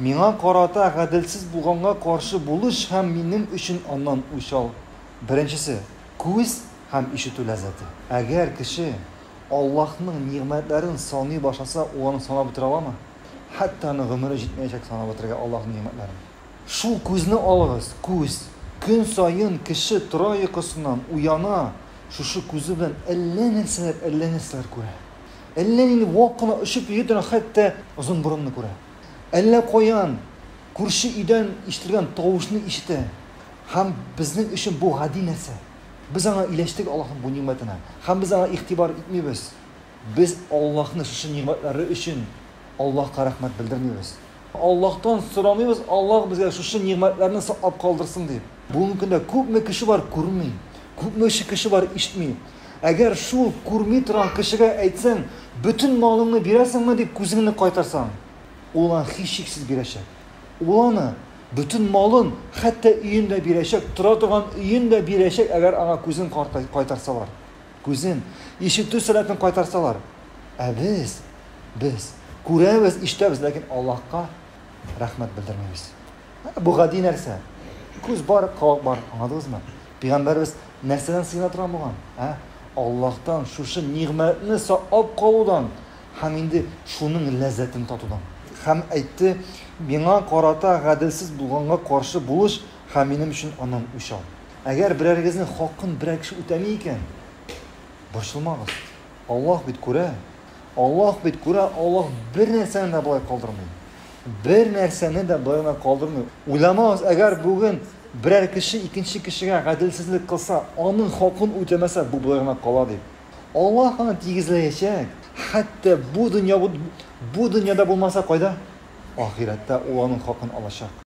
Миңа карата гаделсез булганга каршы булыш һәм минем өчен аннан үч ал. Беренчесе, күз һәм ишетү ләззәте. Әгәр кеше Аллаһның нигъмәтләрен саный башласа, ул аны санап бетерә аламы? Хәтта аның гомере җитмәячәк санап бетерергә Аллаһның нигъмәтләрен. Шул күзне алыгыз, күз. Көн саен кеше тора йокысыннан, уяна, шушы күзе белән әллә нәрсәләр, әллә нәрсәләр күрә. Әллә нинди вак кына очып йөри торган хәтта озынборынны күрә. Әллә каян күрше өйдән ишетелгән тавышны ишетә һәм безнең өчен бу гади нәрсә. Без аңа ияләштек Аллаһның бу нигъмәтенә һәм без аңа игътибар итмибез. Без Аллаһны шушы нигъмәтләре өчен Аллаһка рәхмәт белдермибез. Аллаһтан сорамыйбыз, Аллаһ безгә шушы нигъмәтләрне саклап калдырсын, дип. Бүгенге көндә күпме кеше бар, күрми, күпме кеше бар, ишетми. Әгәр шул күрми торган кешегә әйтсәң, бөтен малыңны бирәсеңме, дип күзеңне кайтарсаң, ул аны һичшиксез бирәчәк. Ул аны, бөтен малын, хәтта өен дә бирәчәк, тора торган өен дә бирәчәк, әгәр аңа күзен кайтарсалар. Күзен, ишетү сәләтен кайтарсалар, ә без, без күрәбез, ишетәбез, ләкин Аллаһка рәхмәт белдермибез. Бу гади нәрсә. Күз бар, колак бар, аңладыгызмы? Пәйгамбәрбез нәрсәдән сыена торган булган? Ә? Аллаһтан шушы нигъмәтне саклап калудан һәм инде шуның ләззәтен татудан. Һәм әйтте, миңа карата гаделсез булганга каршы булыш Һәм минем өчен аннан үч ал. Әгәр берәрегезнең хакын берәр кеше үтәми икән, борчылмагыз. Аллаһ бит күрә. Аллаһ бит күрә, Аллаһ бер нәрсәне дә болай калдырмый. Бер нәрсәне дә болай гына калдырмый. Уйламагыз, әгәр бүген берәр кеше икенче кешегә гаделсезлек кылса, аның хакын үтәмәсә, бу болай гына кала дип. Аллаһ аны тигезләячәк. Хәтта бу дөнья бу дөньяда булмаса, кайда? Ахирәттә ул аның хакын алачак.